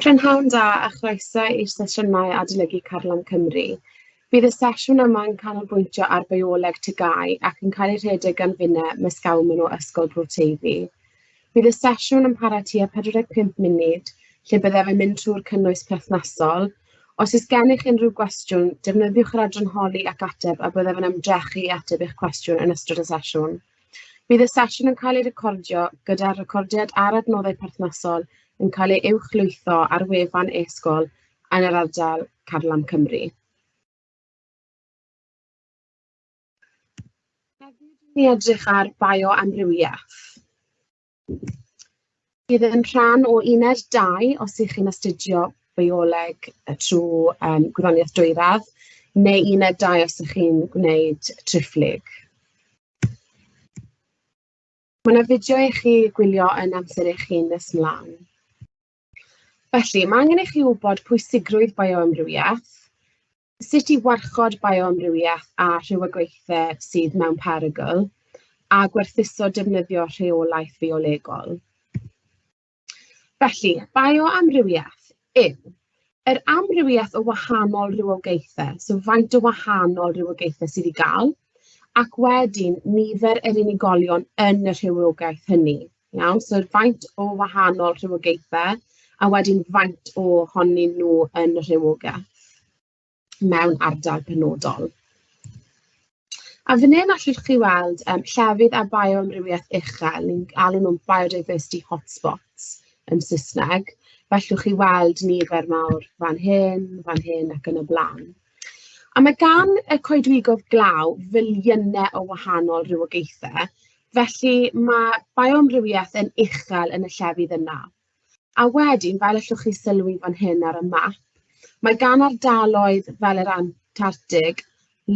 Prynhawn da a chroeso i'r sesiynau Adolygu Carlam Cymru. Bydd y sesiwn yma yn canolbwyntio ar bioleg TGAU ac yn cael ei rhedeg gan finnau Miss Gawman o Ysgol Bro Teifi. Bydd y sesiwn yn para tua 45 munud, lle byddaf yn mynd trwy'r cynnwys perthnasol. Os oes gennych unrhyw gwestiwn, defnyddiwch yr adran holi ac ateb a byddaf yn ymdrechu i ateb eich cwestiwn yn ystod y sesiwn. Bydd y sesiwn yn cael ei recordio gyda'r recordiad a'r adnoddau perthnasol yn cael ei uwchlwytho ar wefan e-sgol yn yr ardal Carlam Cymru. Hefyd, ni edrych ar bioamrywiaeth. Bydd yn rhan o uned 2 os ych chi'n astudio bioleg trwy um, gwyddoniaeth dwyradd, neu uned 2 os ych chi'n gwneud triphlyg. Mae yna fideo i chi gwylio yn amser eich hun nes mlaen. Felly, mae angen i chi wybod pwysigrwydd bioamrywiaeth, sut i warchod bioamrywiaeth a rhywogaethau sydd mewn perygl, a gwerthuso defnyddio rheolaeth fiolegol. Felly, bioamrywiaeth yw yr amrywiaeth o wahanol rhywogaethau, so faint o wahanol rhywogaethau sydd i gael, ac wedyn nifer yr unigolion yn y rhywogaeth hynny. Iawn, so faint o wahanol rhywogaethau a wedyn faint ohonyn nhw yn y rhywogaeth mewn ardal penodol. A fan hyn allwch chi weld yym llefydd â bioamrywiaeth uchel, ni'n alw nhw'n biodiversity hotspots yn Saesneg. Fe allwch chi weld nifer mawr fan hyn, fan hyn ac yn y blaen. A mae gan y coedwigoedd glaw filiynau o wahanol rywogaethau Felly, ma' bioamrywiaeth yn uchel yn y llefydd yna. A wedyn, fel allwch chi sylwi fan hyn ar y map, mae gan ardaloedd fel yr Antartig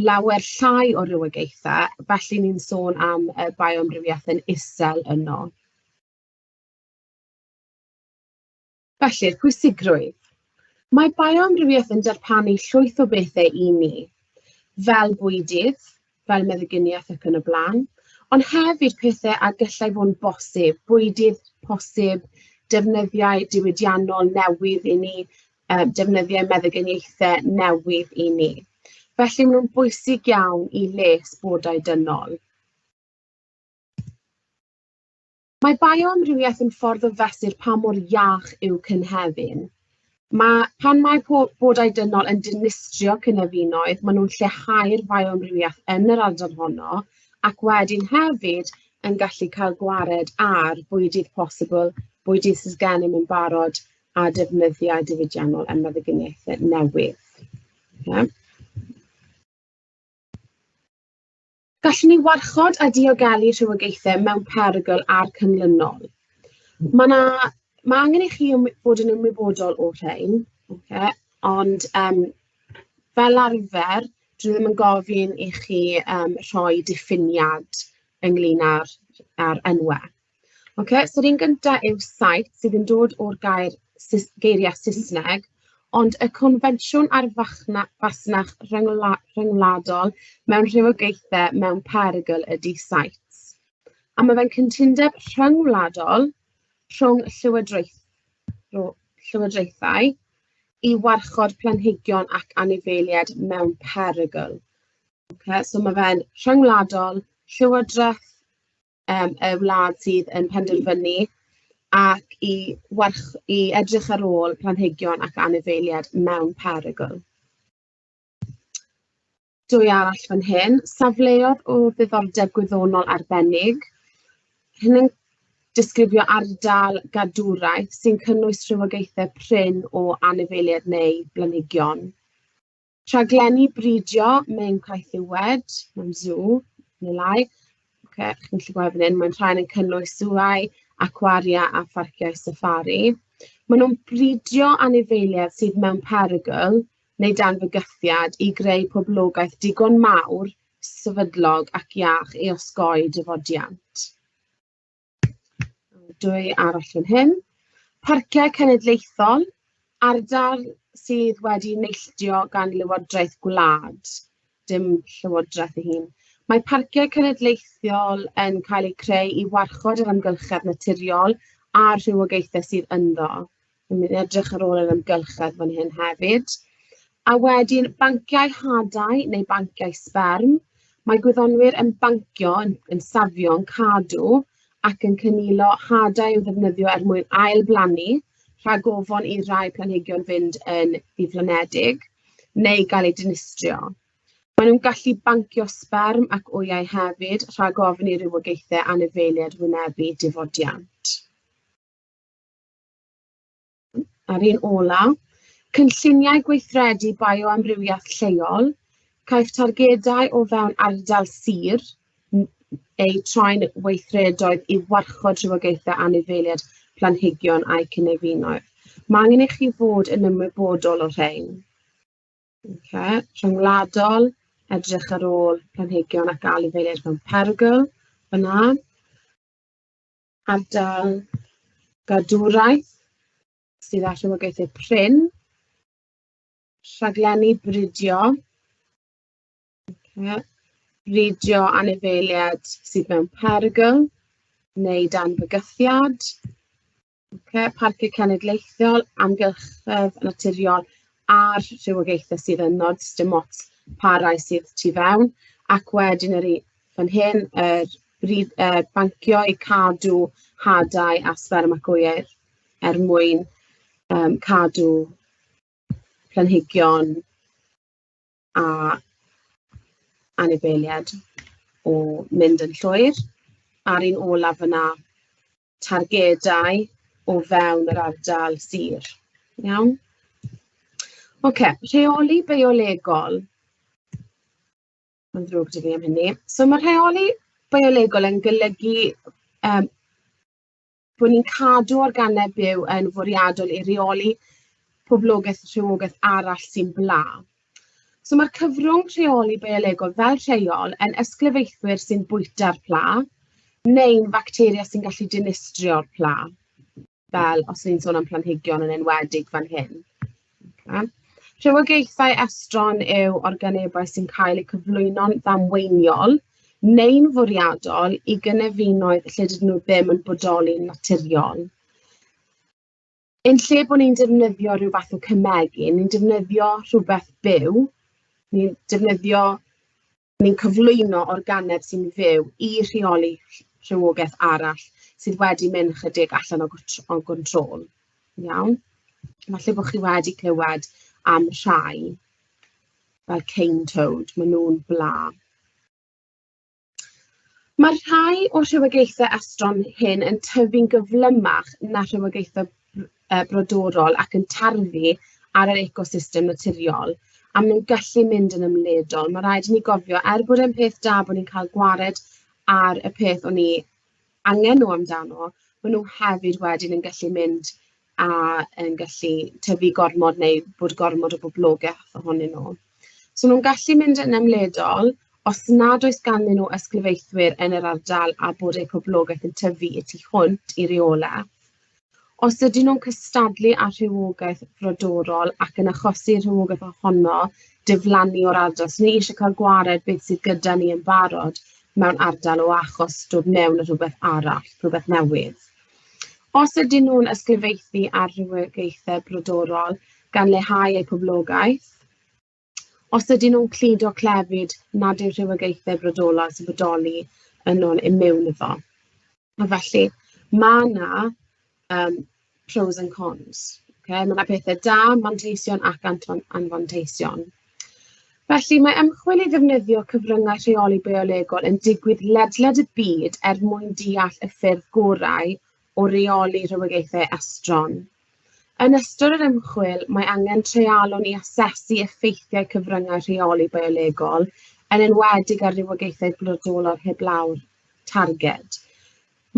lawer llai o rywogaethau, felly ni'n sôn am yy bioamrywiaeth yn isel yno. Felly, pwysigrwydd. Mae bioamrywiaeth yn darpanu llwyth o bethau i ni, fel bwydydd, fel meddyginiaeth ac yn y blaen, ond hefyd pethau a gallai fod yn bosib, bwydydd posib, defnyddiau diwydiannol newydd i ni, uh, defnyddiau meddyginiaethau newydd i ni. Felly maen nhw'n bwysig iawn i les bodau dynol. Mae bioamrywiaeth yn ffordd o fesur pa mor iach yw cynefin. Mae, pan mae bodau dynol yn dinistrio cynefinoedd, maen nhw'n lleihau'r fioamrywiaeth yn yr ardal honno, ac wedyn hefyd yn gallu cael gwared ar bwydydd posibl, bwydydd sydd gennym yn barod a defnyddiau diwydiannol yn meddyginiaethau newydd. Yeah. Gallwn ni warchod a diogelu rhywogaethau mewn perygl a'r cynlynol. Mae yna... mae angen i chi fod yn ymwybodol o'r rhain, ocê, ond yym fel arfer, dwi ddim yn gofyn i chi yym rhoi diffiniad ynglyn â'r â'r enwau. Ocê, so yr un gynta yw site, sydd yn dod o'r gair Sus- geiriau Saesneg, ond y confensiwn ar fachna- fasnach ryngwla- rhyngwladol mewn rhywogaethau mewn perygl ydy sites. A ma' fe'n cytundeb rhyngwladol rhwng llywodraeth- rho- llywodraethau i warchod planhigion ac anifeiliaid mewn perygl. Ocê, so ma' fe'n rhyngwladol, llywodraeth yym y wlad sydd yn penderfynu ac i warch- i edrych ar ôl planhigion ac anifeiliaid mewn perygl. Dwy arall fan hyn, safleoedd o ddiddordeb gwyddonol arbennig. Hyn yn disgrifio ardal gadwraeth sy'n cynnwys rhywogaethau prin o anifeiliaid neu blanhigion. Rhaglenni bridio mewn caethiwed, mewn sŵ neu lai. Ocê chi'n gallu gweld fan hyn, maen rhain yn cynnwys sŵau, acwaria a pharciau safari. Maen nhw'n bridio anifeiliaid sydd mewn perygl neu dan fygythiad i greu poblogaeth digon mawr, sefydlog ac iach i osgoi dafodiant. Dwy arall fan hyn. Parciau cenedlaethol, ardal sydd wedi neilltuo gan lywodraeth gwlad, dim llywodraeth ei hun. Mae parciau cenedlaethol yn cael eu creu i warchod yr amgylchedd naturiol a'r rhywogaethau sydd ynddo. Dwi'n mynd i edrych ar ôl yr amgylchedd fan hyn hefyd. A wedyn banciau hadau neu banciau sberm. Mae gwyddonwyr yn bancio, yn, yn safio, yn cadw ac yn cynilo hadau i'w ddefnyddio er mwyn ail-blannu rhag ofon i rai planhigion fynd yn ddiflonedig neu gael eu dinistrio. Maen nhw'n gallu bancio sberm ac wyau hefyd rhag ofn i rywogaethau anifeiliaid wynebu difodiant. A'r un ola, cynlluniau gweithredu bioamrywiaeth lleol, caiff targedau o fewn ardal sir eu troi'n weithredoedd i warchod rhywogaethau anifeiliaid planhigion a'i cynefinoedd. Mae angen i chi fod yn ymwybodol o'r rhain. Okay. Rhyngwladol, edrych ar ôl planhigion ac anifeiliaid mewn perygl, yna. Ardal gadwraeth sydd â rhywogaethau prin. Rhaglenni bridio. Okay. Bridio anifeiliaid sydd mewn perygl neu dan fygythiad. Okay. Parciau cenedlaethol, amgylchedd naturiol a'r rhywogaethau sydd yn nod sdim ots pa rai sydd tu fewn ac wedyn yr fan hyn, yr brif- yy bancio i cadw hadau a sberm ac wyau er mwyn yym cadw planhigion a anifeiliaid o mynd yn llwyr. A'r un olaf fan'na, targedau o fewn yr ardal sir, iawn? Ocê, rheoli biolegol. Mae'n ddrwg 'da fi am hynny. So ma' rheoli biolegol yn golygu yym bod ni'n cadw organeb byw yn fwriadol i reoli poblogaeth rhywogaeth arall sy'n bla. So ma'r cyfrwng rheoli biolegol fel rheol yn ysglyfaethwyr sy'n bwyta'r pla neu'n facteria sy'n gallu dinistrio'r pla. fel os ni'n sôn am planhigion yn enwedig fan hyn. Okay. Rhywogaethau estron yw organebau sy'n cael eu cyflwyno'n ddamweiniol neu'n fwriadol i gynefinoedd lle dydyn nhw ddim yn bodoli'n naturiol. Yn lle bod ni'n defnyddio rhyw fath o cymegu, ni'n defnyddio rhywbeth byw, ni'n defnyddio ni'n cyflwyno organeb sy'n fyw i rheoli rhywogaeth arall sydd wedi mynd ychydig allan o gwt- o gwntôl, iawn? Falle bo' chi wedi clywed am rhai fel cane toad, maen nhw'n bla. Mae'r rhai o'r rhywogaethau estron hyn yn tyfu'n gyflymach na rhywogaethau yy brodorol ac yn tarfu ar yr ecosystem naturiol, a maen nhw'n gallu mynd yn ymledol. Mae'n rhaid i ni gofio, er bod e'n peth da bod ni'n cael gwared ar y peth o'n ni angen nhw amdano, maen nhw hefyd wedyn yn gallu mynd a yn gallu tyfu gormod neu bod gormod o boblogaeth ohonyn nhw. So maen nhw'n gallu mynd yn ymledol os nad oes ganddyn nhw ysglyfaethwyr yn yr ardal a bod eu poblogaeth yn tyfu y tu hwnt i reolau. Os ydyn nhw'n cystadlu â rhywogaeth frodorol ac yn achosi rhywogaeth ohono diflannu o'r ardal, so ni eisiau cael gwared beth sydd gyda ni yn barod mewn ardal o achos dod mewn â rhywbeth arall, rhywbeth newydd. Os ydyn nhw'n ysglyfaethu ar rywogaethau brodorol gan leihau eu poblogaeth, os ydyn nhw'n cludo clefyd nad yw rhywogaethau brodorol a sefydloli yn ôl yn mewn iddo. A felly, mae yna um, pros and cons. Okay? Mae yna pethau da, manteision ac anfanteision. Felly, mae ymchwil i ddefnyddio cyfryngau rheoli biolegol yn digwydd ledled y byd er mwyn deall y ffyrdd gorau o reoli rhywogaethau estron. Yn ystod yr ymchwil, mae angen treialon i asesu effeithiau cyfryngau rheoli biolegol, yn enwedig ar rywogaethau brodolol heblaw'r targed.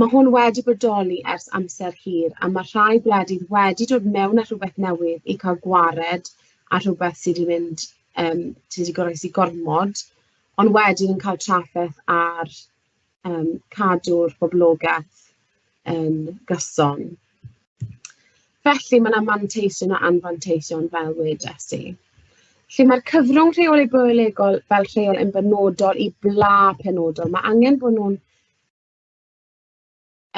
Mae hwn wedi bodoli ers amser hir a mae rhai gwledydd wedi dod mewn â rhywbeth newydd i cael gwared ar rhywbeth sydd wedi mynd yym sydd wedi goroesi gormod, ond wedyn yn cael trafferth ar yym cadw'r boblogaeth yn gyson. Felly, mae 'na manteision a anfanteision, fel wedes i. Felly, mae'r cyfrwng rheoli biolegol fel rheol yn benodol i bla penodol. Mae angen bod nhw'n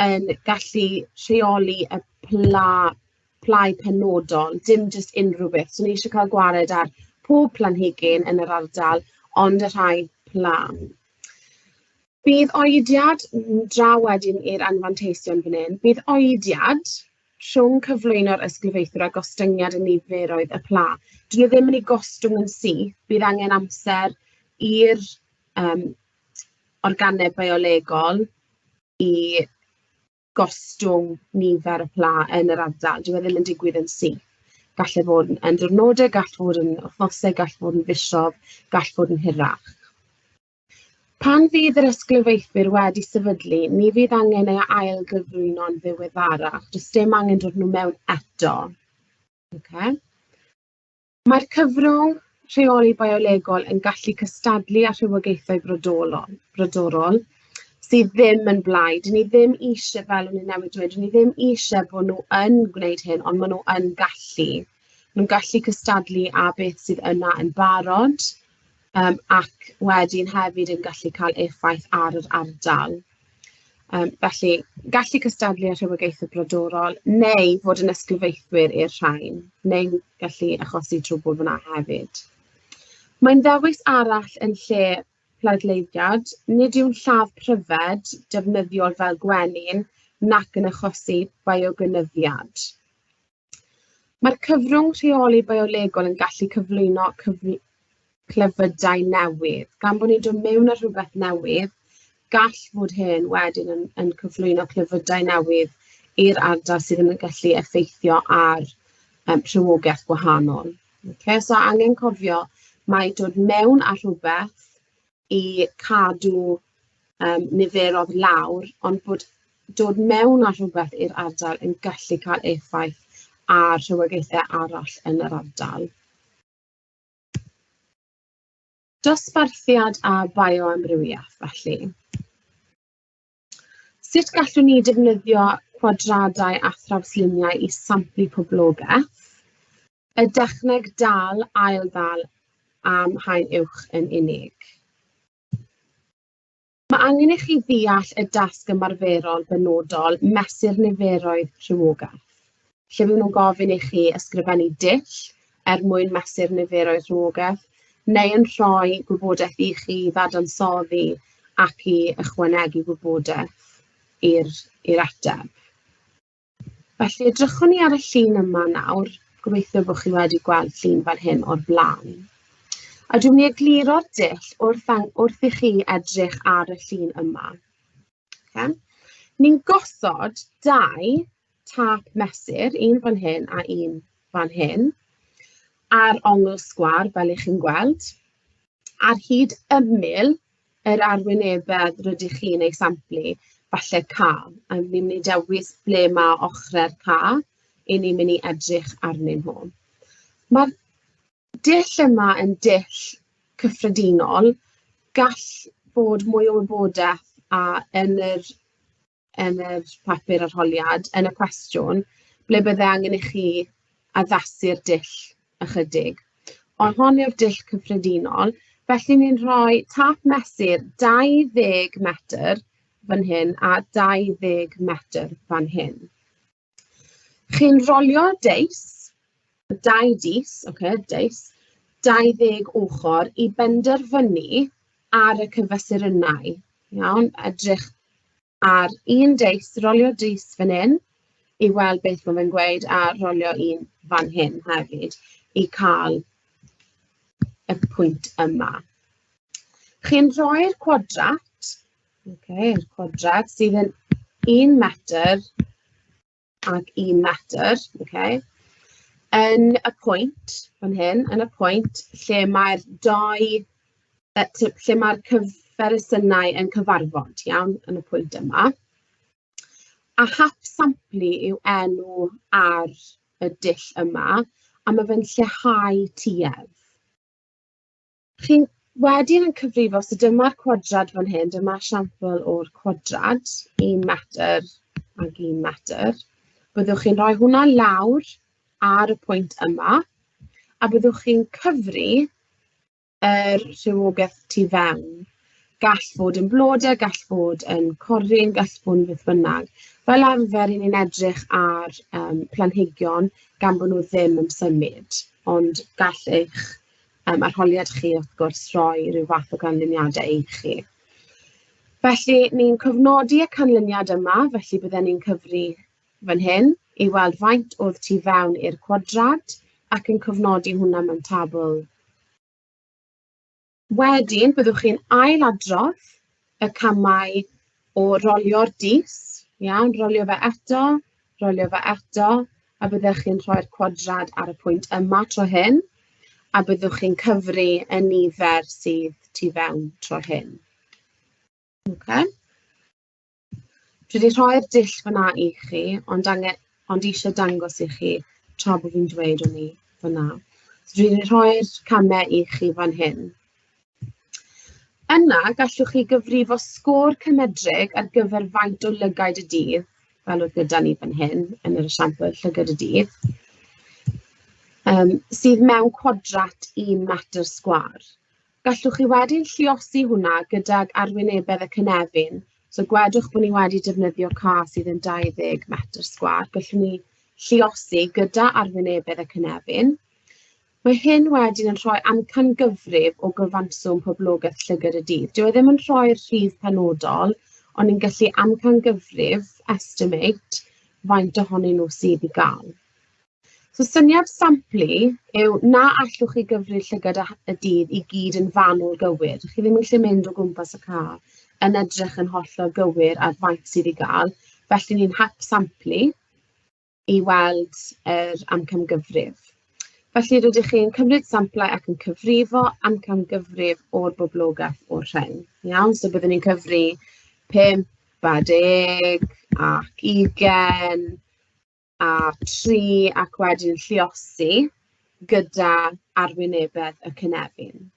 yn gallu rheoli y pla- plâu penodol, dim jyst unrhyw beth. So ni isie cael gwared ar pob planhigyn yn yr ardal, ond y rhai pla. Bydd oediad, n- draw wedyn i'r anfanteision fan hyn, bydd oediad rhwng cyflwyno'r ysglyfaethwr a gostyngiad y niferoedd y pla. 'dyn nhw ddim yn eu gostwng yn syth, bydd angen amser i'r yym organeb biolegol i gostwng nifer y pla yn yr ardal. Dyw e ddim yn digwydd yn syth. Gall e fod yn yn diwrnodau, gall fod yn wythnosau, gall fod yn fisoedd, gall fod yn hirach. Pan fydd yr ysglyfaethwyr wedi sefydlu, ni fydd angen ei ail gyflwyno'n ddiweddarach. Does dim angen dod nhw mewn eto. Okay. Mae'r cyfrwng rheoli biolegol yn gallu cystadlu â rhywogaethau brodolol, brodorol, sydd ddim yn blaid. 'Dyn ni ddim eisiau, fel o'n i'n newydd dweud, 'dyn ni ddim eisiau bod nhw yn gwneud hyn, ond maen nhw yn gallu. Maen nhw'n gallu cystadlu â beth sydd yna yn barod. yym ac wedyn hefyd yn gallu cael effaith ar yr ardal, yym felly gallu cystadlu â rhywogaethau brodorol, neu fod yn ysglyfaethwyr i'r rhain, neu gallu achosi trwbl fan'na hefyd. Mae'n ddewis arall yn lle pleidleiddiad, nid yw'n lladd pryfed defnyddiol fel gwenyn nac yn achosi biogeneiddiad. Mae'r cyfrwng rheoli biolegol yn gallu cyflwyno cyfl clefydau newydd. Gan bod ni'n dod mewn â rhywbeth newydd, gall fod hyn wedyn yn, yn cyflwyno clefydau newydd i'r ardal sydd yn gallu effeithio ar um, rhywogaeth gwahanol. Okay, so angen cofio mae dod mewn â rhywbeth i cadw um, niferodd lawr, ond bod dod mewn â rhywbeth i'r ardal yn gallu cael effaith ar rhywogaethau arall yn yr ardal. Dosbarthiad a bioamrywiaeth, felly. Sut gallwn ni defnyddio cwadradau a thrawsluniau i samplu poblogaeth? Y dechneg dal, ail ddal am haen uwch yn unig. Mae angen i chi ddeall y dasg ymarferol benodol mesur niferoedd rhywogaeth. lle fyddwn nhw'n gofyn i chi ysgrifennu dull er mwyn mesur niferoedd rhywogaeth, neu yn rhoi gwybodaeth i chi ddadansoddi ac i ychwanegu gwybodaeth i'r i'r ateb. Felly edrychwn ni ar y llun yma nawr. Gobeithio bod chi wedi gweld llun fan hyn o'r blaen. A dwi'n mynd i egluro'r dull wrth, wrth i chi edrych ar y llun yma. Ocê, ni'n gosod dau tap mesur, un fan hyn a un fan hyn, ar ongl sgwâr, fel 'y chi'n gweld, ar hyd ymyl yr arwynebedd rydych chi'n ei samplu, falle ca. A ni'n mynd i dewis ble ma' ochrau'r ca 'y ni'n mynd i edrych arnyn nhw. Ma'r dull yma yn dull cyffredinol, gall bod mwy o wybodaeth a yn yr yn yr papur arholiad, yn y cwestiwn, ble bydde angen i chi addasu'r dull ychydig. Ond hon yw'r dull cyffredinol, felly ni'n rhoi tap mesur 20 metr fan hyn a 20 metr fan hyn. Chi'n rolio deis, dau dis, ocê, deis, 20 ochr i benderfynu ar y cyfesurynau, iawn? Edrych ar un deis, rolio deis fan hyn i weld beth mae fe'n gweud a rolio un fan hyn hefyd i cael y pwynt yma. Chi'n rhoi'r cwadrat Okay, quadrad sydd yn un metr ac un metr, okay. yn y pwynt fan hyn, yn y pwynt lle mae'r dau, lle mae'r cyferysiynau yn cyfarfod, iawn, yn y pwynt yma. A hap samplu yw enw ar y dull yma, a mae fe'n lleihau tuedd. Chi wedyn yn cyfrifo, so dyma'r cwadrad fan hyn, dyma esiampl o'r cwadrad i metr ac i metr. Byddwch chi'n rhoi hwnna lawr ar y pwynt yma, a byddwch chi'n cyfri yr rhywogaeth tu fewn. Gall fod yn blodau, gall fod yn corrin, gall fod yn beth bynnag. Fel arfer, i ni'n edrych ar um, planhigion gan bod nhw ddim yn symud, ond gall eich Yym, arholiad chi wrth gwrs, rhoi ryw fath o ganlyniadau i chi. Felly, ni'n cofnodi y canlyniad yma, felly bydden ni'n cyfri fan hyn i weld faint oedd tu fewn i'r cwadrad ac yn cofnodi hwnna mewn tabl. Wedyn, byddwch chi'n ail-adrodd y camau o rolio'r dis, iawn, rolio fe eto, rolio fe eto, a byddech chi'n rhoi'r cwadrad ar y pwynt yma tro hyn, a byddwch chi'n cyfri y nifer sydd tu fewn tro hyn. Okay. Dwi wedi rhoi'r dull fyna i chi, ond, angen, ond eisiau dangos i chi tra bod fi'n dweud o'n i fyna. So dwi wedi rhoi'r camau i chi fan hyn. Yna, gallwch chi gyfrifo sgôr cymedrig ar gyfer faint o lygaid y dydd, fel oedd gyda ni fan hyn, yn yr esiampl llygad y dydd, yym sydd mewn cwadrat i metr sgwâr. Gallwch chi wedyn lliosi hwnna gydag arwynebedd y cynefin. So gwedwch bod ni wedi defnyddio ca sydd yn 20 metr sgwâr. Gallwn ni lliosi gyda arwynebedd y cynefin. Mae hyn wedyn yn rhoi amcangyfrif o gyfanswm poblogaeth llygad y dydd. Dyw e ddim yn rhoi'r rhif penodol, ond ni'n gallu amcangyfrif, estimate, faint ohonyn nhw sydd i gael. So syniad samplu yw na allwch chi gyfri'r llygad y dydd i gyd yn fanwl gywir. Chi ddim yn gallu mynd o gwmpas y car yn edrych yn hollol gywir ar faint sydd i gael, felly ni'n hap samplu. i weld yr amcangyfrif. Felly, rydych chi'n cymryd samplau ac yn cyfrifo amcangyfrif o'r boblogaeth o'r rhain, iawn? So byddwn ni'n cyfri 5 a 10 ac 20 a 3 ac wedyn lliosi gyda arwynebedd y cynefin.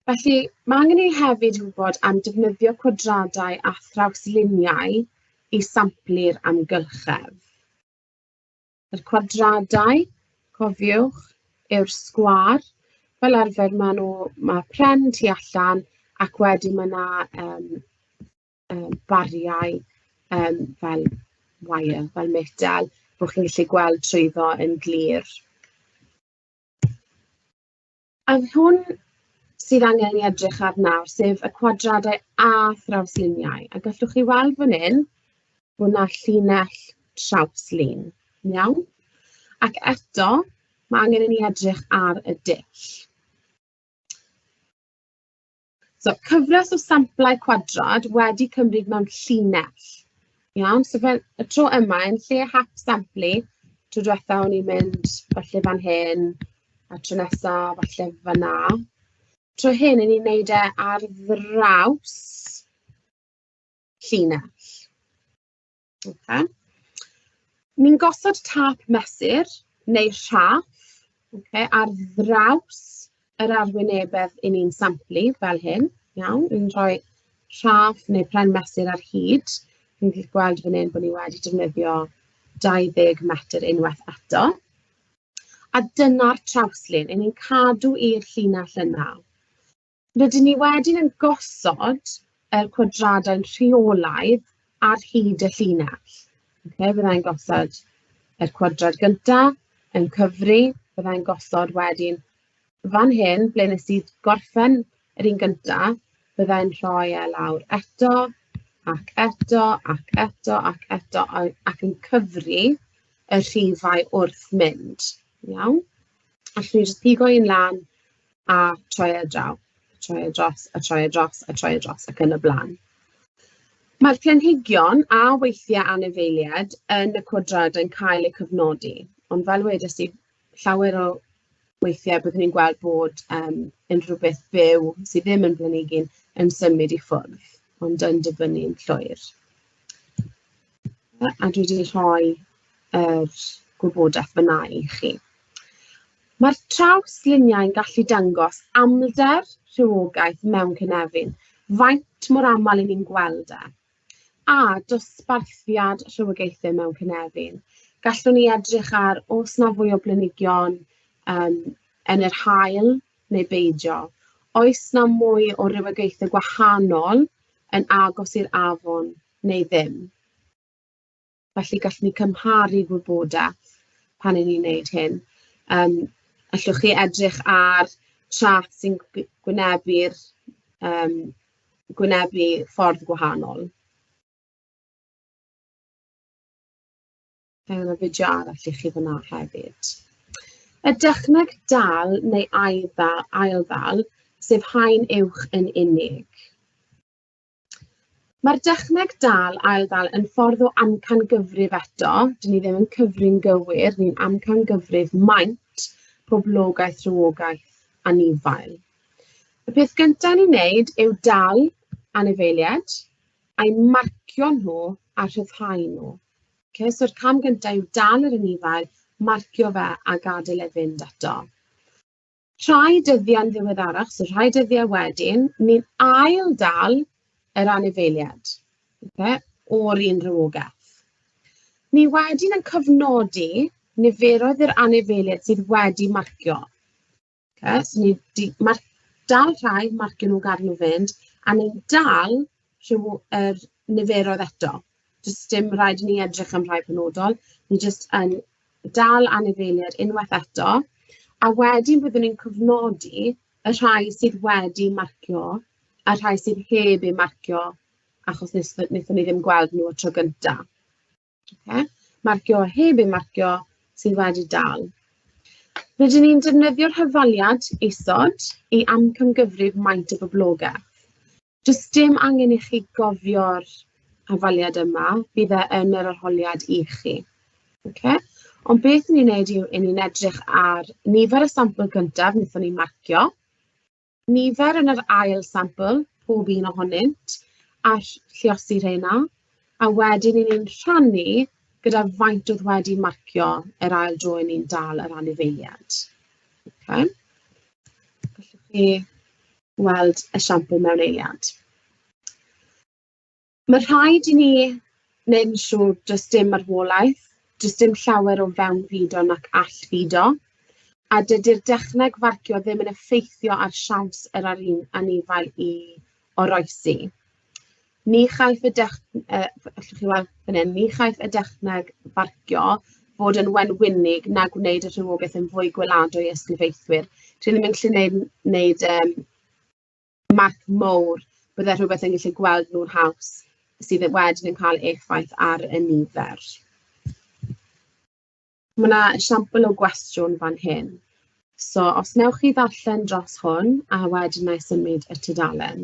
Felly, mae angen i ni hefyd wybod am defnyddio cwadradau a thrawsluniau i samplu'r amgylchedd. Yr cwadradau, cofiwch, yw'r sgwâr. Fel arfer maen nhw... ma' pren tu allan ac wedyn ma' 'na yym yym bariau yym fel wire, fel metel, bo' chi'n gallu gweld trwyddo yn glir. A'r hwn sydd angen ei edrych ar nawr, sef y cwadradau â thrawsluniau, a gallwch chi weld fan hyn bod 'na llinell trawslun, iawn? Ac eto, mae angen i ni edrych ar y dull. So, cyfres o samplau cwadrad wedi cymryd mewn llinell. Iawn, so fel y tro yma, yn lle hap samplu, tro diwetha o'n i'n mynd falle fan hyn, a tro nesa falle fan'na. Tro hyn, 'yn ni'n wneud e ar ddraws llinell. Ocê. Ni'n gosod tâp mesur neu rhaff, ocê, ar ddraws yr arwynebedd 'yn ni'n samplu fel hyn, iawn? Ni'n rhoi rhaff neu pren mesur ar hyd. Chi'n gallu gweld fan hyn bod ni wedi defnyddio 20 metr unwaith eto. A dyna'r trawslun, 'yn ni'n cadw i'r llinell yna. Rydyn ni wedyn yn gosod yr cwadradau'n rheolaidd ar hyd y llinell. Okay, Fyddai'n gosod yr cwadrad gyntaf yn cyfri, byddai'n gosod wedyn fan hyn ble nes i gorffen yr un gyntaf, byddai'n rhoi e lawr eto, ac eto, ac eto, ac eto, ac yn cyfri y rhifau wrth mynd. Iawn? Allwn ni jyst pigo un lan a troi e draw, a troi e dros, a troi e dros, a troi e dros ac yn y blaen. Mae'r planhigion a weithiau anifeiliaid yn y cwadrad yn cael eu cyfnodi, ond fel wedes i, llawer o weithiau byddwn ni'n gweld bod um, unrhyw beth byw sydd ddim yn blanigyn yn symud i ffwrdd, ond yn dyfynnu yn llwyr. A dwi wedi rhoi yr er gwybodaeth fyna i chi. Mae'r traws-luniau yn gallu dangos amlder rhywogaeth mewn cynefin, faint mor aml i ni'n gweld e, a dosbarthiad rhywogaethau mewn cynefin. Gallwn ni edrych ar os na fwy o blanhigion um, yn yr hael neu beidio. Oes na mwy o rywogaethau gwahanol yn agos i'r afon neu ddim? Felly, gallwn ni cymharu gwybodaeth pan 'y ni'n wneud hyn. Yym, allwch chi edrych ar chart sy'n gw- gwynebu'r yym gwynebu ffordd gwahanol. Mae 'na fideo arall i chi fan'na hefyd. Y dechneg dal neu ail-ddal ail-ddal, sef haen uwch yn unig. Mae'r dechneg dal, ail-dal yn ffordd o amcangyfrif eto. Dyn ni ddim yn cyfri'n gywir, ni'n amcangyfrif maint poblogaeth, rhywogaeth a nifael. Y peth gyntaf ni'n neud yw dal anifeiliaid a'i marcio nhw a rhyddhau nhw. Okay, So'r cam gyntaf yw dal yr anifail, marcio fe a gadael e fynd eto. Rhai dyddiau'n ddiweddarach, so rhai dyddiau wedyn, ni'n ail-dal yr anifeiliaid, oce, o'r un rhywogaeth. Ni wedyn yn cofnodi niferoedd yr anifeiliaid sydd wedi marcio. Okay? So ni di mar dal rhai, marcio nhw, gadael nhw fynd, a ni'n dal rhyw, er, niferoedd eto. Does dim rhaid i ni edrych am rhai penodol, ni jyst yn dal anifeiliaid unwaith eto, a wedyn byddwn ni'n cofnodi y rhai sydd wedi marcio a'r rhai sydd heb eu marcio achos nes- wnaethon ni ddim gweld nhw y tro gynta. Ocê, marcio a heb eu marcio sydd wedi dal. Rydyn ni'n defnyddio'r hyfaliad isod i amcangyfrif maint y boblogaeth. Does dim angen i chi gofio'r hafaliad yma, bydd e yn yr arholiad i chi. Ocê? Ond beth 'y ni'n wneud yw 'y ni'n edrych ar nifer y sampl gyntaf wnaethon ni marcio, nifer yn yr ail sampl, pob un ohonynt, a lluosi rheina, a wedyn 'y ni'n rhannu gyda faint oedd wedi marcio yr ail dro 'yn ni'n dal yr anifeiliaid. Ocê? Gallwch chi weld esiampl mewn eiliad. Ma' rhaid i ni wneud yn siŵr does dim marwolaeth, does dim llawer o fewnfudo nac allfudo, a dydy'r dechneg farcio ddim yn effeithio ar siawns yr arin- anifail i oroesi. Ni chaiff y dech- yy allwch chi weld fan hyn, ni chaiff y dechneg farcio fod yn wenwynig na gwneud y rhywogaeth yn fwy gweladwy i ysglyfaethwyr. Dwi ddim yn gallu neud neud yym marc mowr, bydde rhywbeth yn gallu gweld nhw'n haws sydd yy wedyn yn cael effaith ar y nifer. Ma' 'na esiampl o gwestiwn fan hyn, so os wnewch chi ddarllen dros hwn, a wedyn wna i symud y tudalen.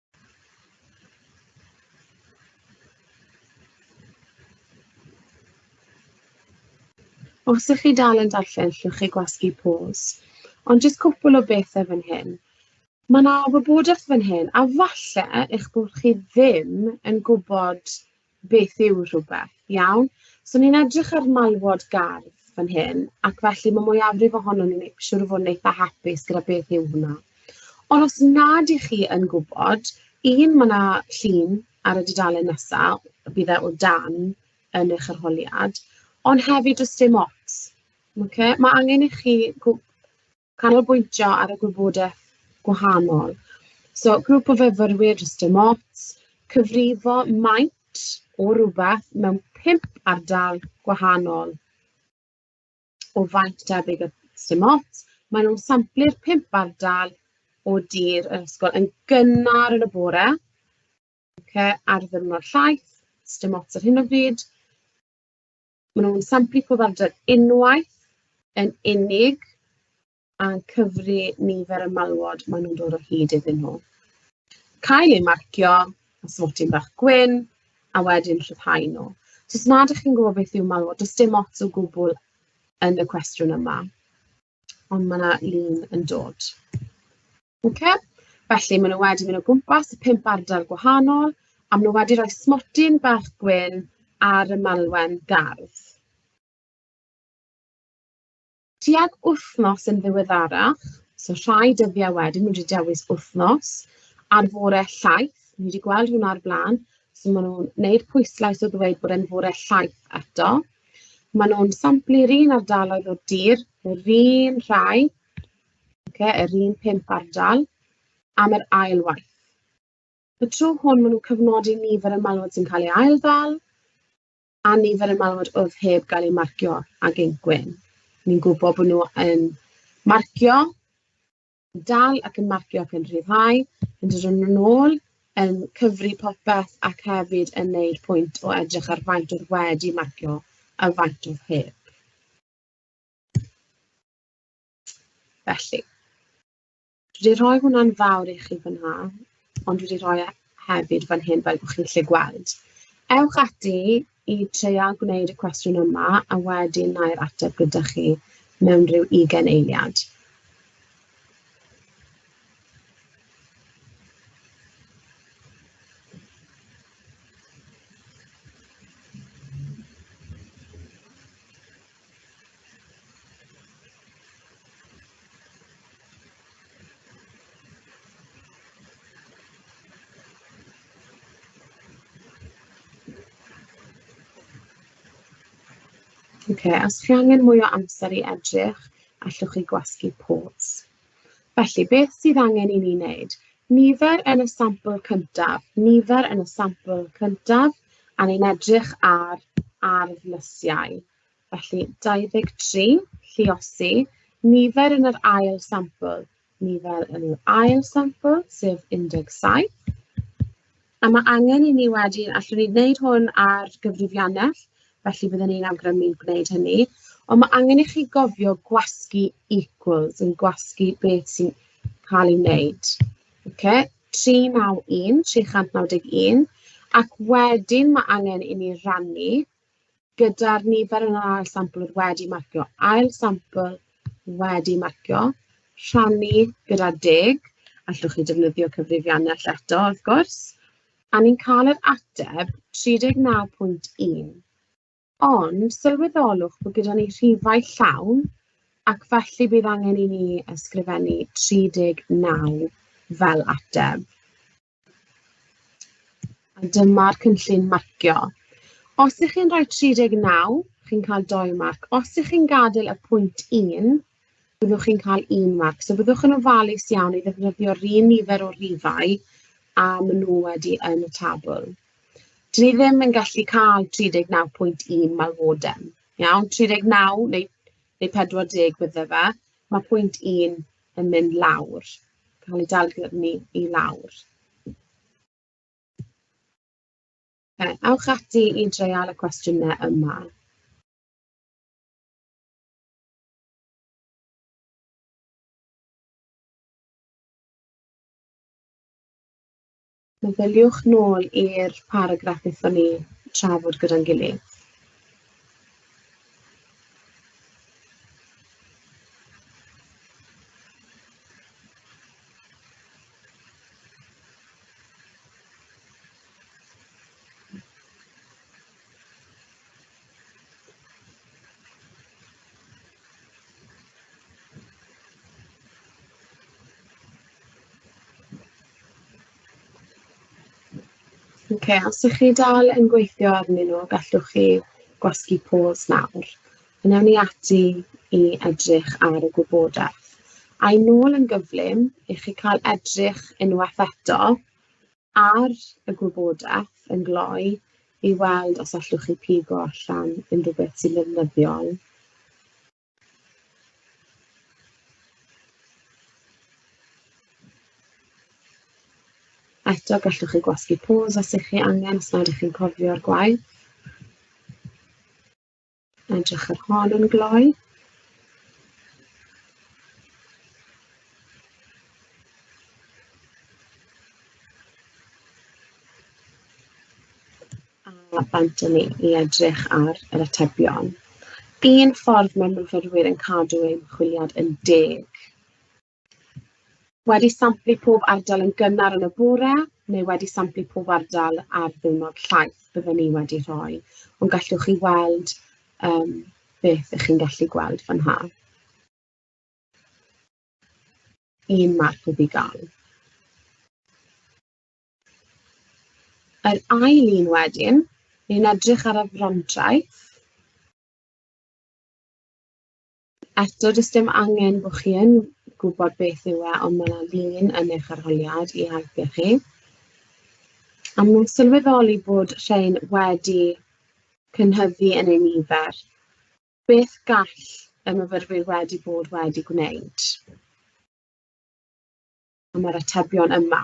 Os ydych chi dal yn darllen, llwch chi gwasgu pause. Ond jyst cwpl o bethau fan hyn. Mae yna wybodaeth fan hyn, a falle eich bod chi ddim yn gwybod beth yw rhywbeth, iawn? So ni'n edrych ar malwod gardd fan hyn, ac felly mae mwyafrif ohono ni'n ei- siŵr o fod yn eitha hapus gyda beth yw hwnna. Ond os nad i chi yn gwybod, un, mae yna llun ar y dudalen nesa, bydd e o dan yn eich arholiad, ond hefyd does dim ots, ocê? Ma' angen i chi gw- canolbwyntio ar y gwybodaeth gwahanol. So grŵp o fyfyrwyr jyst dim ots, cyfrifo maint o rywbeth mewn pump ardal gwahanol o faint debyg y dim ots. Maen nhw'n samplu'r pump ardal o dir yr ysgol yn gynnar yn y bore, okay, ar ddiwrnod llaeth, dim ots ar hyn o bryd. Maen nhw'n samplu pob amser unwaith yn unig a'n cyfri nifer y malwod maen nhw'n dod o hyd iddyn nhw. Cael eu marcio a swatyn bach gwyn a wedyn llyfhau nhw. So os nad ydych chi'n gwybod beth yw malwod, does dim ots o gwbl yn y cwestiwn yma. Ond mae yna lun yn dod. Okay. Felly, maen nhw wedi mynd o gwmpas y pump ardal gwahanol, a maen nhw wedi rhoi smotyn bach gwyn ar y malwen gardd. Tuag wythnos yn ddiweddarach, so rhai dyddiau wedyn, wedi dewis wythnos, ar fore llaeth, ni wedi gweld hwnna ar blaen, so maen nhw'n gwneud pwyslais o ddweud bod e'n fore llaeth eto. Maen nhw'n samplu'r un ardaloedd o'r dir, yr un rhai, okay, yr un pump ardal, am yr ail waith. Y tro hwn, maen nhw'n cyfnodi nifer y malwod sy'n cael ei ail ddal a nifer y malwod oedd heb gael ei marcio ag ein gwyn. Ni'n gwybod bod nhw yn marcio yn dal ac yn marcio ac yn rhyddhau, yn dod yn ôl, yn cyfri popeth ac hefyd yn wneud pwynt o edrych ar faint oedd wedi marcio a faint oedd heb. Felly, dwi wedi rhoi hwnna'n fawr i chi fan'na. ond dwi 'di rhoi e hefyd fan hyn fel bod chi'n gallu gweld. Ewch ati i treial gwneud y cwestiwn yma, a wedyn wna i'r ateb gyda chi mewn rhyw ugain eiliad. Ocê, os chi angen mwy o amser i edrych, allwch chi gwasgu pause. Felly, beth sydd angen i ni wneud? Nifer yn y sampl cyntaf, nifer yn y sampl cyntaf, a ni'n edrych ar ardd lysiau. Felly, 23, lliosi, nifer yn yr ail sampl, nifer yn yr ail sampl, sef 17. A mae angen i ni wedyn... allwn ni wneud hwn ar gyfrifiannell, felly byddwn ni'n awgrymu gwneud hynny, ond ma' angen i chi gofio gwasgu equals yn gwasgu beth sy'n cael ei wneud, ocê? 391 391 ac wedyn ma' angen i ni rannu gyda'r nifer yn yr ail sampl oedd wedi marcio. Ail sampl wedi marcio, rhannu gyda deg, allwch chi defnyddio cyfrifiannell eto wrth gwrs, a ni'n cael yr ateb 39.1. Ond sylweddolwch bod gyda ni rhifau llawn ac felly bydd angen i ni ysgrifennu 39 fel ateb. A dyma'r cynllun marcio. Os ych chi'n rhoi 39, chi'n cael 2 marc. Os ych chi'n gadael y pwynt 1, byddwch chi'n cael 1 marc. So byddwch yn ofalus iawn i ddefnyddio'r un nifer o rifau a maen nhw wedi yn y tabl. Dyn ni ddim yn gallu cael 39.1 malwodem. Iawn, 39 neu, neu 40 bydde fe. Mae pwynt 1 yn mynd lawr, cael ei dal gyda ni i lawr. Ocê, ewch ati i dreial y cwestiynau yma. Meddyliwch nôl i'r paragraff wnaethon ni trafod gyda'n gilydd. Ok, os ydych chi dal yn gweithio arnyn nhw, gallwch chi gwasgu pause nawr. Yn ewn ni ati i edrych ar y gwybodaeth. A'i nôl yn gyflym i chi cael edrych unwaith eto. ar y gwybodaeth yn gloi i weld os allwch chi pigo allan unrhyw beth sy'n ddefnyddiol. Eto, gallwch chi gwasgu pôs os ych chi angen, os nad ych chi'n cofio'r gwaith. Edrych ar hon yn gloi. A bant ni i edrych ar yr atebion. Un ffordd mae myfyrwyr yn cadw eu ymchwiliad yn deg Wedi samplu pob ardal yn gynnar yn y bore neu wedi samplu pob ardal ar ddiwrnod llaeth byddwn ni wedi rhoi, ond gallwch chi weld um, beth ych chi'n gallu gweld fan ha. Un marc wedi gael. Yr ail un wedyn, ni'n edrych ar y frontraeth. Eto, does dim angen bod chi yn gwybod beth yw e, ond mae yna lun yn eich arholiad i helpu chi. A mae'n sylweddoli bod rhain wedi cynhyddu yn ei nifer. Beth gall y myfyrwyr wedi bod wedi gwneud? am yr atebion yma.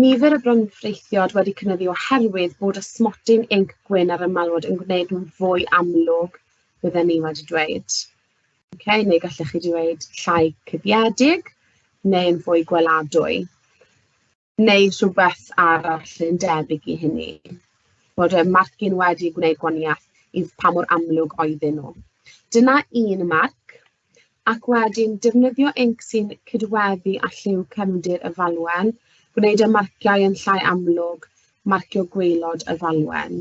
Nifer y bronfreithiod wedi cynyddu oherwydd bod ysmodyn inc gwyn ar y malwod yn gwneud nhw'n fwy amlwg, bydden ni wedi dweud. Okay, neu gallech chi dweud llai cuddiedig neu'n fwy gweladwy. Neu rhywbeth arall yn debyg i hynny. Bod y marcyn wedi gwneud gwaniaeth i pa mor amlwg oedden nhw. Dyna un marc ac wedyn defnyddio inc sy'n cydweddu â lliw cefndir y falwen, gwneud y marciau yn llai amlwg, marcio gwaelod y falwen.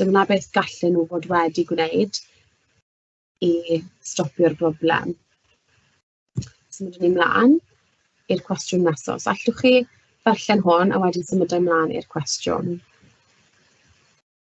Dyna beth gallen nhw fod wedi gwneud i stopio'r broblem. Symud ni mlaen i'r cwestiwn nesaf. Os allwch chi ddarllen hwn a wedyn symud ymlaen i'r cwestiwn.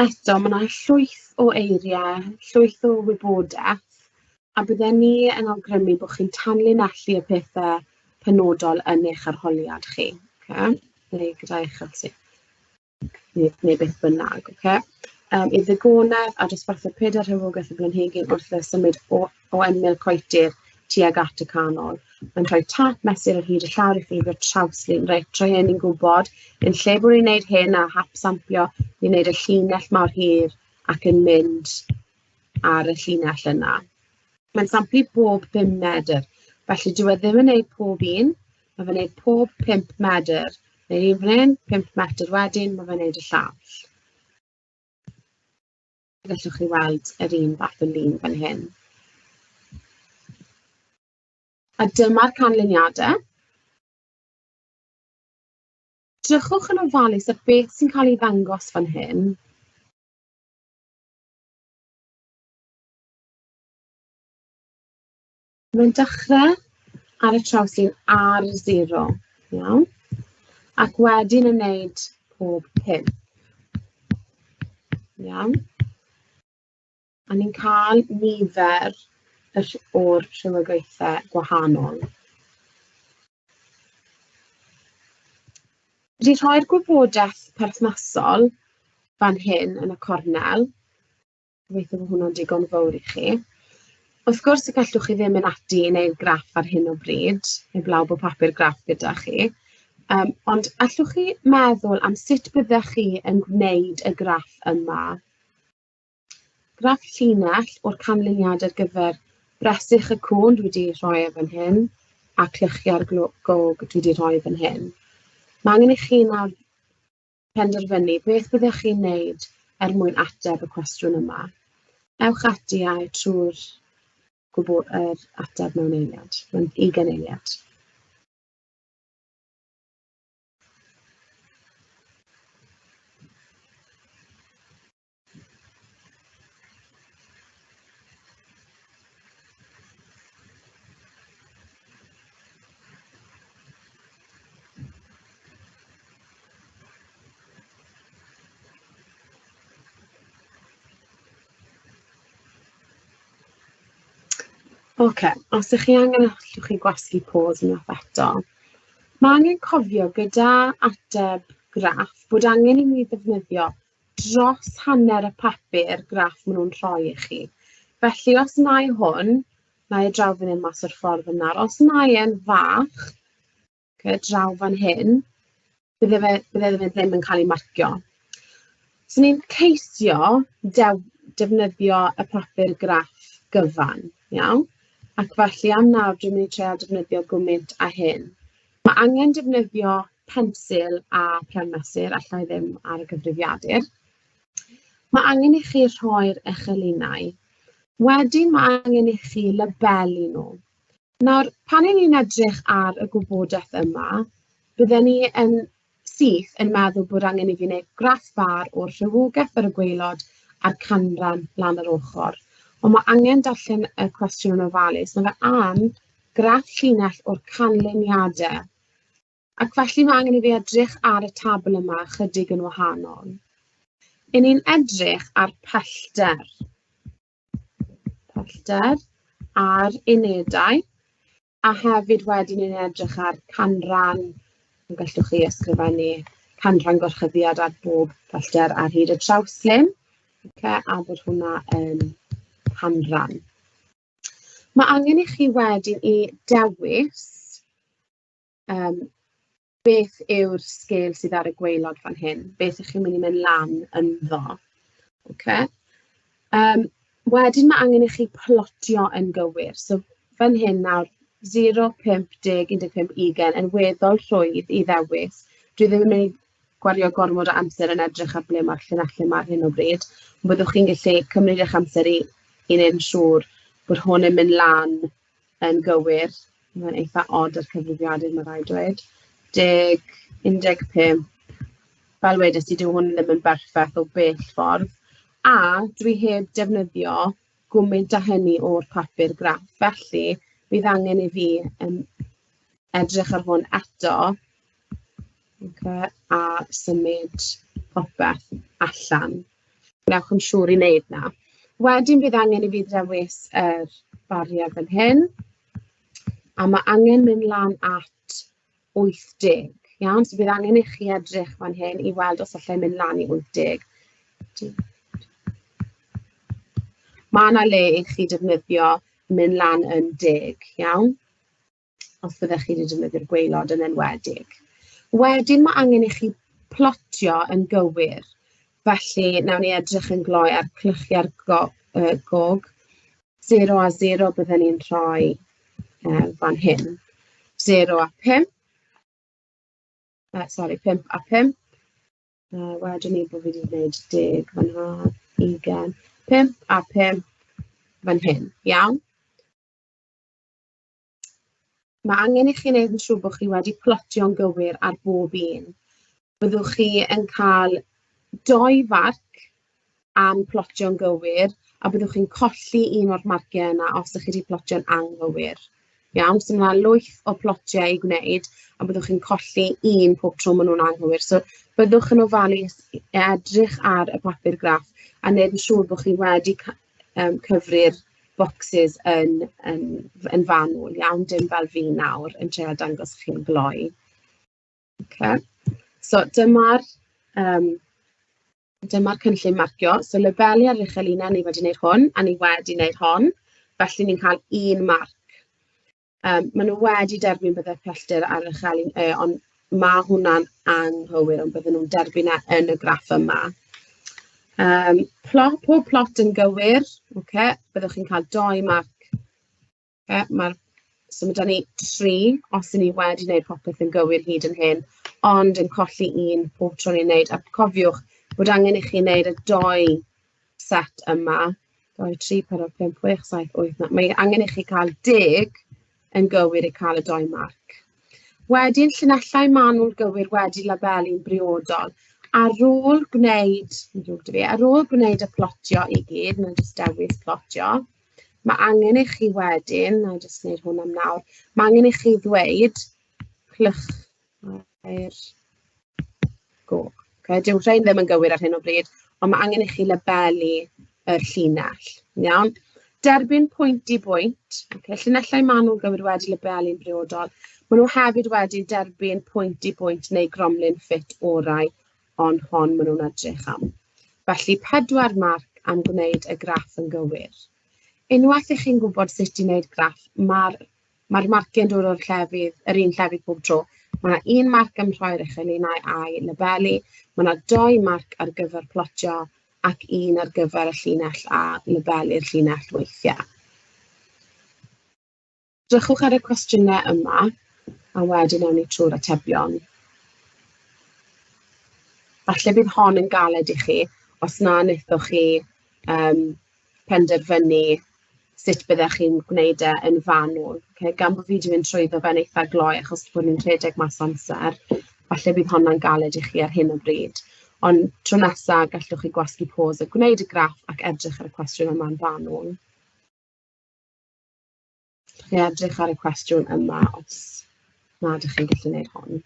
Eto, mae 'na llwyth o eiriau, llwyth o wybodaeth, a bydden ni yn awgrymu bod chi'n tanlinellu y pethe penodol yn eich arholiad chi, ocê, neu gyda eich arti- neu neu beth bynnag, ocê. Yym, i'r ddigonedd, a dosbarthu pedair rhywogaeth y blanhigyn wrth i fe symud o o ymyl coetir tuag at y canol. Mae'n rhoi tap mesur ar hyd y llawr i ffurfio trawslun. Reit, trwy hyn ni'n gwybod, yn lle bod ni'n gwneud hyn a hap sampio, ni'n gwneud y llinell mawr hir ac yn mynd ar y llinell yna. Mae'n samplu bob 5 medr, felly dyw e ddim yn gwneud pob un, mae fe'n gwneud pob 5 medr. Neu'r un fan hyn, 5 metr wedyn, mae fe'n gwneud y llall. Fe allwch chi weld yr un fath o lun fan hyn. A dyma'r canlyniadau. Drychwch yn ofalus ar beth sy'n cael ei ddangos fan hyn. Mae'n dechrau ar y trawst sy'n ar zero, iawn? Ac wedyn yn wneud pob pum. Iawn? A ni'n cael nifer o'r rhywogaethau gwahanol. Wedi rhoi'r gwybodaeth perthnasol fan hyn yn y cornel, Gobeithio bod hwnna'n digon fawr i chi. Wrth gwrs y gallwch chi ddim mynd ati i wneud graff ar hyn o bryd, heblaw bod papur graff gyda chi. Yym, ond allwch chi meddwl am sut byddech chi yn gwneud y graff yma? Graff llinell o'r canlyniad ar gyfer bresych y cwn dwi wedi rhoi e fan hyn a clychiau'r gog dwi wedi rhoi fan hyn. Mae angen i chi nawr penderfynu beth byddech chi'n wneud er mwyn ateb y cwestiwn yma. Ewch ati a'i trwy'r gwbl yr ateb mewn eiliad, mewn ugain eiliad. Ocê, os y'ch chi angen allwch chi gwasgu pos unwaith eto. Ma' angen cofio gyda ateb graff bod angen i ni ddefnyddio dros hanner y papur graff maen nhw'n rhoi i chi. Felly os na'i hwn, na'i draw fan hyn mas o'r ffordd yna, os na'i e'n fach, okay, draw fan hyn, bydde fe, bydde fe ddim yn cael ei marcio. So ni'n ceisio dew, defnyddio y papur graff gyfan, iawn? Ac felly am nawr, dwi'n mynd i trio defnyddio gwmynt a hyn. Ma' angen defnyddio pensil a phen mesur, alla i ddim ar y gyfrifiadur. Ma' angen i chi rhoi'r echelynnau. Wedyn ma' angen i chi labelu nhw. Nawr, pan 'yn ni'n edrych ar y gwybodaeth yma, bydden ni yn sydd yn meddwl bod angen i fi wneud graff fâr o'r rhywogaeth ar y gwaelod a'r canran lan yr ochr. Ond mae angen darllen y cwestiwn yn ofalus. Mae fe am graff llinell o'r canlyniadau. Ac felly mae angen i fi edrych ar y tabl yma chydig yn wahanol. Yn ni'n edrych ar pellter. pellter a'r unedau, a hefyd wedyn ni'n edrych ar canran, y gallwch chi ysgrifennu canran gorchuddiad ar bob pellter ar hyd y trawslen, ocê, a bod hwnna yn canran. Mae angen i chi wedyn i dewis yym, beth yw'r sgêl sydd ar y gwaelod fan hyn? Beth 'y chi'n mynd i mynd lan ynddo? Ocê. Yym, wedyn ma' angen i chi plotio yn gywir. So fan hyn nawr, 0, 5, 10, 15, 20 yn weddol rhwydd i ddewis. Dwi ddim yn mynd i gwario gormod o amser yn edrych ar ble ma'r llinellau 'ma ar hyn o bryd, ond byddwch chi'n gallu cymryd eich amser i i wneud yn siŵr bod hwn yn mynd lan yn gywir, mae'n eitha od yr cyfrifiadur ma' raid dweud. Deg, 15. Fel wedes i, dyw hwn ddim yn berffaith o bell ffordd, a dwi heb defnyddio gwmint â hynny o'r papur graff, felly bydd angen i fi yym edrych ar hwn eto Ocê, a symud popeth allan. Gwnewch yn siŵr i wneud 'na. Wedyn bydd angen i fi ddewis yr bariau fan hyn, a ma' angen mynd lan at 80, iawn? So bydd angen i chi edrych fan hyn i weld os alla i mynd lan i 80. Ma' 'na le i chi defnyddio mynd lan yn deg, iawn? os byddech chi 'di defnyddio'r gwaelod yn enwedig. Wedyn ma' angen i chi plotio yn gywir, felly wnawn ni edrych yn gloi ar clychiau'r go- yy gog, zero a zero bydden ni'n rhoi yy fan hyn, zero a pump, yy sori pump a pump, yy wedwn ni bod fi 'di gwneud deg fan'na, ugain, pump a pump fan hyn, iawn? mae angen i chi wneud yn siŵr bod chi wedi plotio'n gywir ar bob un. Byddwch chi yn cael doi farc am plotio'n gywir a byddwch chi'n colli un o'r marciau yna os ydych chi wedi plotio'n anghywir. Iawn, so mae lwyth o plotiau i gwneud a byddwch chi'n colli un pob tro maen nhw'n anghywir. So byddwch yn ofalus edrych ar y papur graff a wneud yn siŵr bod chi wedi yym cyfri'r bocsys yn yn yn fanwl iawn, dim fel fi nawr yn trio dangos i chi'n glou. Ocê so dyma'r yym dyma'r cynllun marcio. So labelu ar yr uchel un, a ni wedi wneud hwn, a ni wedi wneud hon, felly ni'n cael un marc. Yym, maen nhw wedi derbyn bydde'r pellter ar y Chaleen Ë, ond ma' hwnna'n anghywir, ond bydden nhw'n derbyn e yn y graff yma. Yym, pla- pob plot yn gywir, ocê, byddwch chi'n cael dou marc. Yy ma'r... so ma' 'da ni tri, os 'y ni wedi wneud popeth yn gywir hyd yn hyn, ond yn colli un pob tro ni'n wneud, a cofiwch bod angen i chi wneud y dou... set yma, 2, 3, 4, 5, 6, 7, 8, 9. Mae angen i chi cael deg yn gywir i cael y dou marc. Wedyn, llinellau manwl gywir wedi labelu'n briodol. Ar ôl gwneud, fi, ar ôl gwneud y plotio i gyd, mae'n jyst dewis plotio, mae angen i chi wedyn, na i jyst gwneud hwn am nawr, mae angen i chi ddweud clych Mae'r... O, ocê, dyw rhein ddim yn gywir ar hyn o bryd, ond ma' angen i chi labelu yr llinell, yn iawn? Derbyn pwynt i bwynt, ocê, llinellau manwl gywir wedi labelu'n briodol, maen nhw hefyd wedi derbyn pwynt i bwynt neu gromlin ffit orau, ond hon maen nhw'n edrych am. Felly, pedwar marc am gwneud y graff yn gywir. Unwaith i chi'n gwybod sut i wneud graff, mae'r Mae'r marciau'n dod o'r llefydd... yr un llefydd pob tro. Mae 'na un marc am rhoi ar eich eliniau a'i labelu, mae 'na dou marc ar gyfer plotio, ac un ar gyfer y llinell a labelu'r llinell weithiau. Drychwch ar y cwestiynau yma, a wedyn awn ni trwy'r atebion. Falle bydd hon yn galed i chi os na wnaethoch chi yym penderfynu sut byddech chi'n gwneud e yn fanwl. Ocê, gan bo' fi 'di mynd trwyddo fe'n eitha glou achos bod ni'n rhedeg mas o amser, falle bydd honna'n galed i chi ar hyn o bryd. Ond tro nesa, gallwch chi gwasgu pos a gwneud y graff ac edrych ar y cwestiwn yma'n fanwl. Dach chi'n edrych ar y cwestiwn yma os na dach chi'n gallu wneud hwn.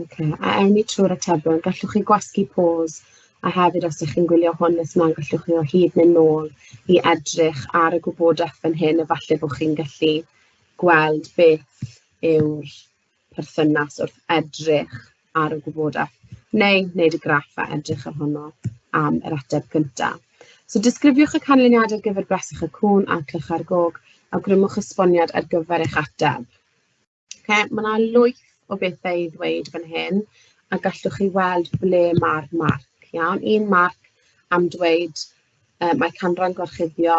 Ok, a ewn ni trwy'r atebion. Gallwch chi gwasgu pause, a hefyd os dach chi'n gwylio hwn nes mlaen, gallwch chi o hyd mynd nôl i edrych ar y gwybodaeth fan hyn, a falle bod chi'n gallu gweld beth yw'r perthynas wrth edrych ar y gwybodaeth neu wneud y graff a edrych ohono am yr ateb gyntaf. So disgrifiwch y canlyniad ar gyfer bresych y cwn a clych ar gog, awgrymwch esboniad ar gyfer eich ateb. Okay, mae yna lwyth o bethau i ddweud fan hyn a gallwch chi weld ble mae'r marc. Iawn, un marc am dweud Yy mae canran gorchuddio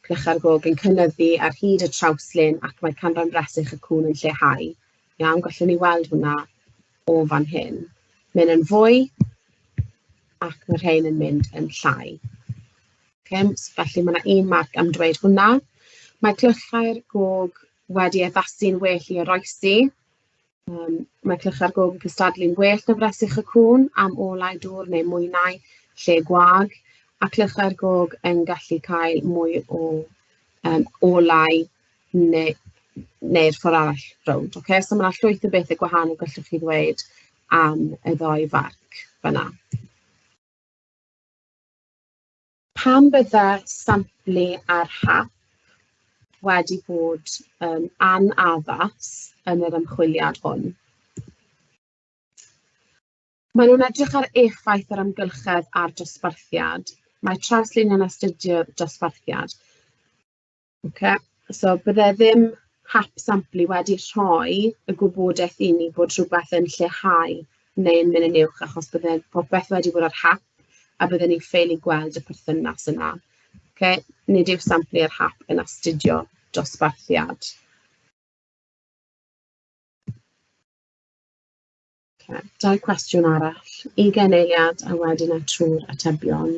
cnychau'r gog yn cynyddu ar hyd y trawslin ac mae canran bresych y cŵn yn lleihau. Iawn, gallwn ni weld hwnna o fan hyn. Mae'n yn fwy ac mae rhain yn mynd yn llai. Okay, felly mae yna un marc am dweud hwnna. Mae clychau'r gog wedi addasu'n well i oroesi. Yym mae Clych ar Gof yn cystadlu'n well na Fresyg y Cŵn am olau dŵr neu mwynau lle gwag, a Clych ar Gog yn gallu cael mwy o yym olau neu neu'r ffordd arall rownd. Ocê so ma' 'na llwyth o bethe gwahanol gallwch chi ddweud am y ddou farc fan'na. Pan bydda samplu ar hap wedi bod yn anaddas yn yr ymchwiliad hwn, Maen nhw'n edrych ar effaith yr amgylchedd ar dosbarthiad. Mae trawsluny'n astudio dosbarthiad. Ocê, so byddai ddim hap samplu wedi rhoi y gwybodaeth i ni bod rhywbeth yn lleihau neu yn mynd yn uwch, achos byddai popeth wedi bod ar hap, a bydden ni'n ffeili gweld y perthynas yna. Ocê, nid yw samplu ar hap yn astudio dosbarthiad. Okay. Dau cwestiwn arall. Ugain eiliad a wedyn a trwy'r atebion.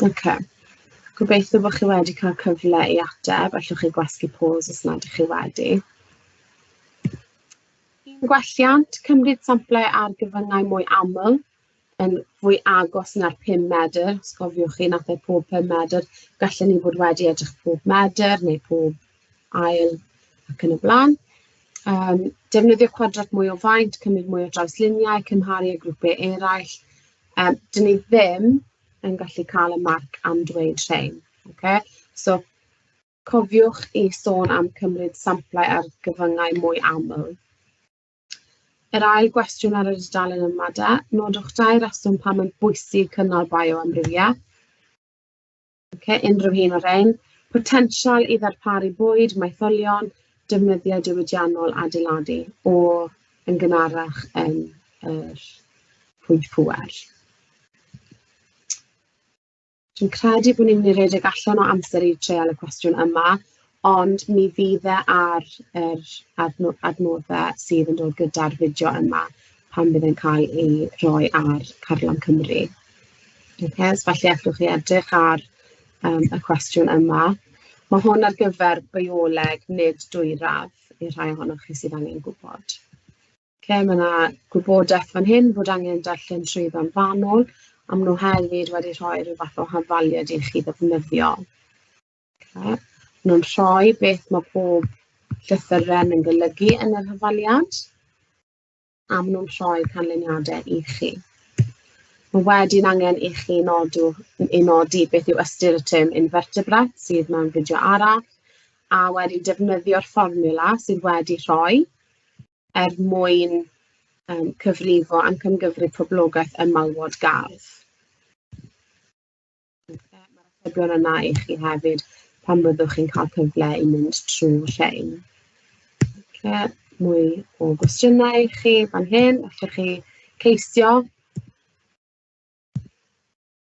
Ocê, gobeithio bod chi wedi cael cyfle i ateb, allwch chi gwasgu pause os nad ydych chi wedi. Un gwelliant, cymryd samplau ar gyfyngau mwy aml, yn fwy agos na'r 5 medr, os cofiwch chi, wnaeth e pob 5 medr. Gallen ni fod wedi edrych pob medr neu pob ail ac yn y blaen. Um, defnyddio cwadrat mwy o faint, cymryd mwy o drawsluniau, cymharu â grwpiau eraill. Um, dyn ni ddim yn gallu cael y marc am dweud rhain. Okay? So, cofiwch i sôn am cymryd samplau ar gyfyngau mwy aml. Yr ail gwestiwn ar y dudalen yma de, nodwch dau reswm pam mae'n bwysig cynnal bioamrywiaeth. Okay, unrhyw un o'r rhain. Potensial i ddarparu bwyd, maetholion, defnyddiau diwydiannol adeiladu o yn gynharach yn yr pwynt pŵer. Dwi'n credu bod ni'n mynd i redeg allan o amser i treial y cwestiwn yma, ond mi fydd e ar yr adno- adnoddau sydd yn dod gyda'r fideo yma pan fydd e'n cael ei roi ar carlam Cymru. Ocê, so falle allwch chi edrych ar yym y cwestiwn yma. Ma' hwn ar gyfer bioleg, nid dwyradd, i'r rhai ohonoch chi sydd angen gwybod. Ocê, ma' 'na gwybodaeth fan hyn bod angen darllen trwyddo'n fanwl, a ma' nhw hefyd wedi rhoi ryw fath o hafaliad i chi ddefnyddio. Ocê, ma' nhw'n rhoi beth ma' pob llythyren yn golygu yn yr hafaliad, a ma' nhw'n rhoi canlyniadau i chi. Ma' wedyn angen i chi nodw i nodi beth yw ystyr y term invertebrate sydd mewn fideo arall, a wedyn defnyddio'r fformiwla sydd wedi rhoi. er mwyn um, cyfrifo am cymgyfrif poblogaeth ym malwod gardd. Mae'r atebion yna i chi hefyd pan fyddwch chi'n cael cyfle i mynd trwy rhain. Okay. Mwy o gwestiynau i chi fan hyn, allwch chi ceisio.